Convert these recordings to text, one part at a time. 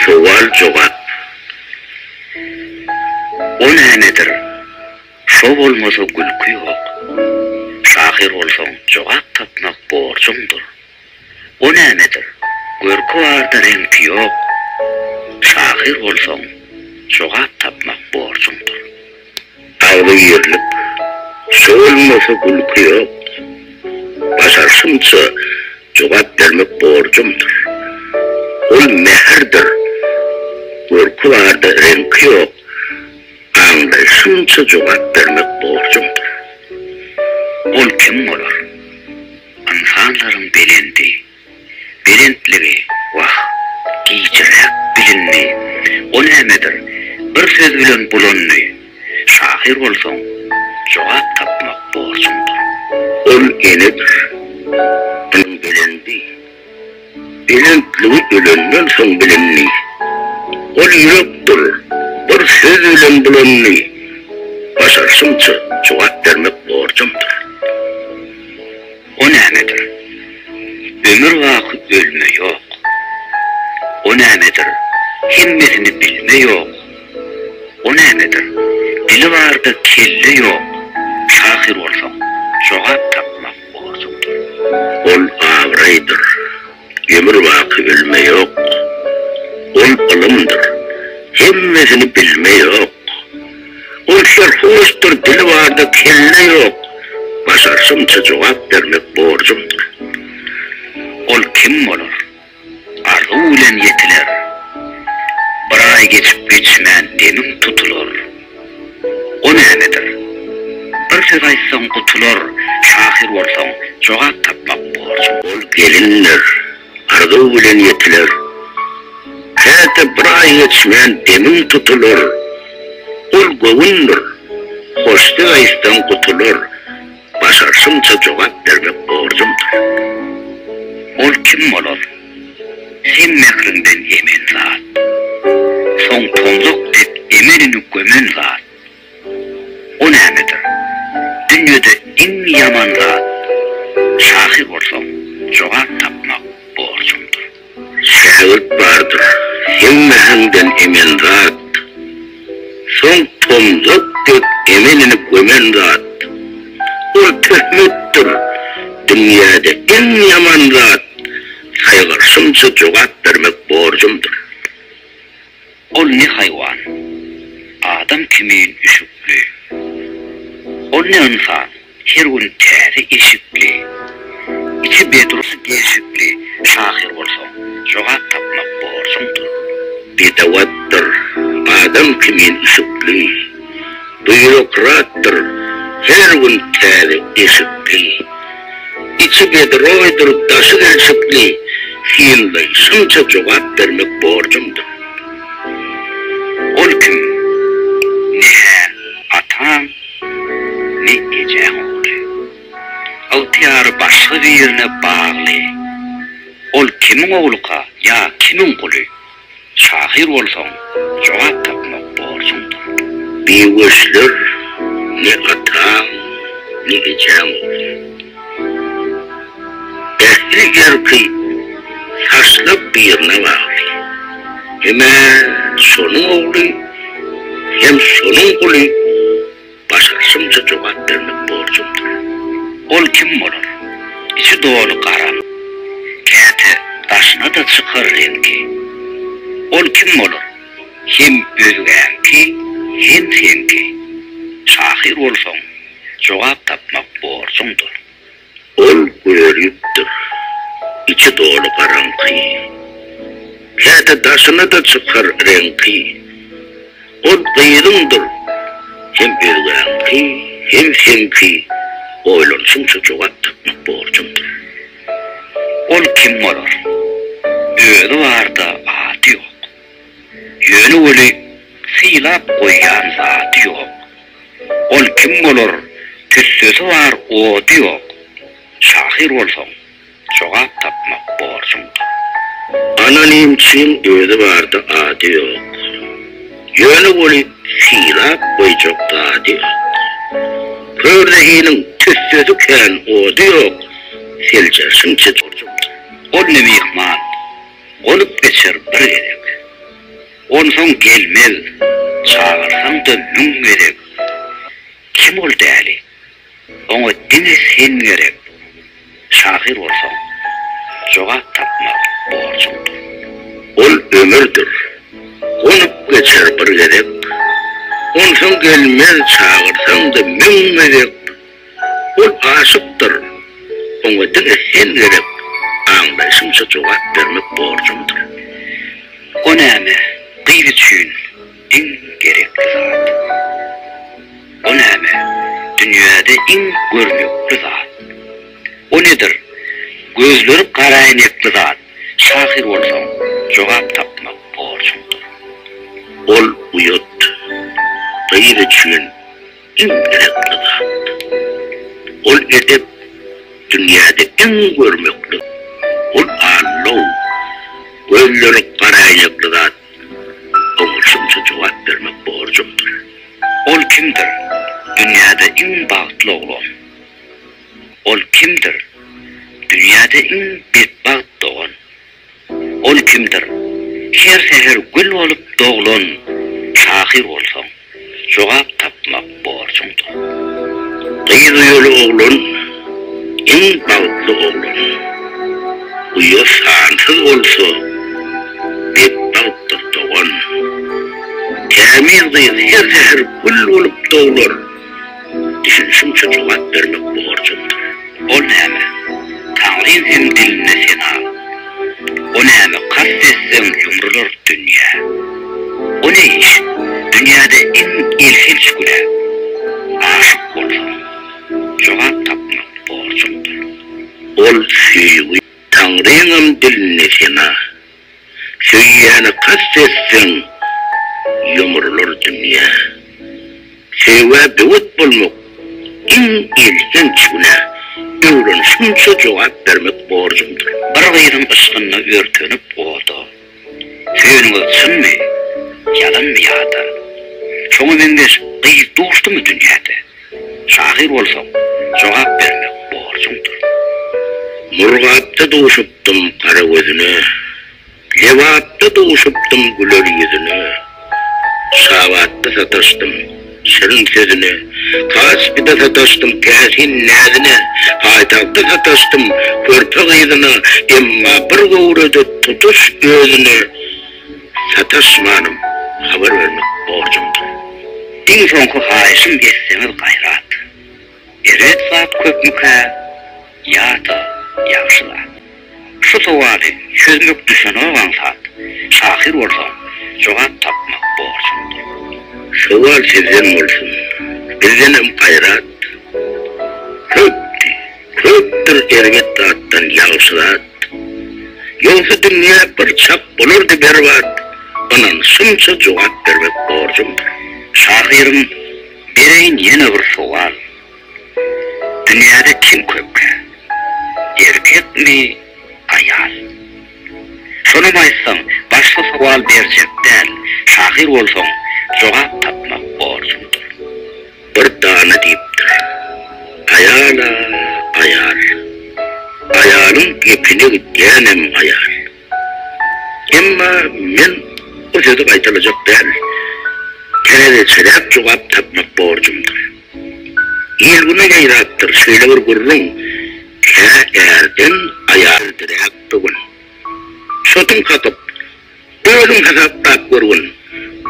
Sowal-jogap. O nämedir? Şo bolmasa gülki ýok. Şahyr bolsaň jogap tapmak borjuňdyr. O nämedir? Görki barda reňki ýok. Şahyr bolsaň jogap tapmak borjuňdyr. Agzy girlip, solmasa gülki ýok. Başarşymça jogap bermek borjumdyr. Ol mähirdir, görki barda reňki ýok. Aňlaýşymça jogap bermek borjumdyr. Ol kim bolar? Ynsanlaryň belendi. Belentligi, wah, gijiräk bilindi. O nämedir, bir söz bilen bulandy. Şahyr bolsaň, jogap tapmak borjuňdyr. Ol enedir, munuň belendi. Belentligi ölenden soň bilindi. Ol ýürekdir, bir söz bilen bulandy. Başarşymça, jogap bermek borjumdyr. O nämedir? Ömür baky ölme ýok. O nämedir? Hemmesini bilme ýok. O nämedir? Dili barda kelle ýok. Şahyr bolsaň, jogap tapmak borjuňdyr. Ol abraýdyr. Ömür baky ölme ýok. Ol ylymdyr, hemmesini bilme ýok. Ol serhoşdyr, dili barda kelle ýok. Başarşymça jogap bermek borjumdyr. Ol kim bolar? Arzuw bilen ýetiler. Bir aý geçip geçmän demiň tutular. O nämedir? Bir söz aýtsaň gutular, şahyr bolsaň, jogap tapmak borjuň. Ol gelindir, arzuw bilen ýetiler. Käte bir aý geçmän demiň tutular. Ol göwündir, hoşsöz aýtsaň gutular. Başarşymça jogap bermek borjumdyr. Ol kim bolar? Sen mähriňden emen zat. Soň tomzak dek emelini gömen zat. O nämedir? Dünýede iň ýaman zat. Şahy bolsaň, jogap tapmak borjumdyr. Şägirt bardyr, hemmäňden emen zat. Soň tomzak dek emenini gömen zat. Ol töhmetdir, dünýäde iň ýaman zat. Saýgarşymça jogap bermek borjumdyr. Ol ne haýwan, adam kimin üşükli. Ol ne ynsan, her gün täze eşikli. Içi bedrus deşikli şahyr bolsaň, jogap tapmak borjuňdyr. Bedewatdyr, adam kimin üşükli. Býurokratdyr, her gün täze eşikli. Içi bedroýdur, daşy gelşikli, Hildaý, şunça jogap bermek borjumdyr. Ol kim? Ne-hä ataň, ne ejäň ogly. Ygtyýary başga birine bagly. Ol kimiň ogluka ýa kimiň guly, Şahyr bolsaň, jogap tapmak borjuňdyr. Biweşler ne ataň, ne ejäň ogly. Ähli erki saçlap birine bagly. Hem-ä şonuň ogly, hem şonuň guly. Başarşymça jogap bermek borjumdyr. Ol kim bolar? Içi doly gara. Käte daşyna-da çykar reňki. Ol kim bolar? Hem özgäňki, hem seňki. Şahyr bolsaň, jogap tapmak borjuňdyr. Ol gölýüpdir. Içi doly garaňky. Käte daşyna-da çykar reňki. Ol gyzyňdyr. Hem özgäňki, hem seňki. Oýlanşyňça jogap tapmak borjuňdyr. Ol kim bolar? Özi barda ady ýok. Ýöne weli sylap goýýan zady ýok. Ol kim bolar, tüssesi bar, ody ýok. Şahyr bolsaň, jogap tapmak borjuňdyr. Anonimçiň özi bardy, ady ýok. Ýöne ony sylap goýjak zady ýok. Kör zehiniň tüssesi kän, ody ýok, seljerişiňçe borjuňdyr. Ol ne myhman, bolup geçer bir gezek. Onsoň gelmez, çagyrsaň-da müň gezek. Kim ol däli? Oňa diňe sen gerek. Şahyr bolsaň, jogap tapmak borjuňdyr. Ol ömürdir, gonup geçer bir gezek. Onsoň gelmez, çagyrsaň-da müň gezek. Ol aşykdyr. Oňa diňe her gezek aňlaýşymça jogap bermek borjumdyr. O näme, gyz üçin iň gerekli zat? O näme, dünýäde iň görnükli zat? O nedir, gözleri garaäýnekli zat? Şahyr bolsaň, jogap tapmak borjuňdyr. Ol uýat. Gyz üçin. Iň gerekli zat. Ol edep dünýäde iň görmekli. Ol allow. Gözleri garaýnekli zat. Oňa şunça jogap bermek borjumdyr. Ol kimdir? Dünýäde iň bagtly oglan. Ol kimdir? Dünýäde iň betbagt dogan. Ol kimdir? Her säher gül bolup doglan şahyr bolsaň, jogap tapmak borjuňdyr. Gyz uýaly oglan, iň bagtly oglan. Uýa sansyz bolsa, betbagtdyr dogan. Tämiz gyz her säher gül bolup doglar. Düşünişiňçe jogap bermek borjumdyr. Ol näme? Taňrym hem diline sena. O näme kast etseň ýumrular dünýä. O ne iş? Dünýäde iň elhenç günä. Aşyk bolsaň, jogap tapmak borjumdyr. Ol söýgi, Taňryňam diline sena. Söýýäne kast etseň, ýumrular dünýä. Söýgä böwet bolmak, iň elhenç günä. Öwrenişimçe jogap bermek borjumdyr. Bir gyzyň yşkynda örtenip oda. Söýeniňiz çynmy, ýalanmy ýa-da. Şoňa meňzeş gyz duşdumy dünýäde? Şahyr bolsaň, jogap bermek borjuňdyr. Murgapda duşupdym gara gözüne, Lebapda duşupdym güler ýüzüne, Şabatda sataşdym şirin sözüne, Kaspyda sataşdym täsin näzine, Paýtagtda sataşdym körpe gyzyna, Emma bir göwrede tutuş özüne, Sataşmanym habar bermek borjumdyr. Iň soňky haýyşym etseňiz gaýrat. Erbet zat köpmükä ýa-da ýagşy zat? Şu sowaly çözmek düşenok aňsat şahyr bolsaň jogap tapmak borjumdyr. Sowal sizden bolsun. Bizdenem gaýrat köpdi. Köpdür erbet zatdan ýagşy zat. Ýogsa dünýä bir çak bolardy berbat, Ynanşymça jogap bermek borjumdyr. Şahyrym, bereýin ýene bir sowal, Dünýäde kim köpräk, erkekmi, aýal? Şonam aýtsaň, başga sowal berjek däl, Şahyr bolsaň, jogap tapmak borjumdyr. Bir dana diýipdir. Aýal-a, aýal. Aýalyň gepine gidýänem aýal. Emma men bu sözi gaýtalajak däl. Täzeçeräk jogap tapmak borjumdyr. Il-güne ýaýrapdyr şeýle bir gürrüň, Kä ärden aýal diräk bu gün. Çotuň kakyp, Özüň hasaplap görgün,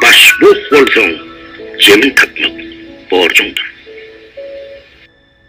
başbuh bolsaň, zemin tapmak borjuňdyr.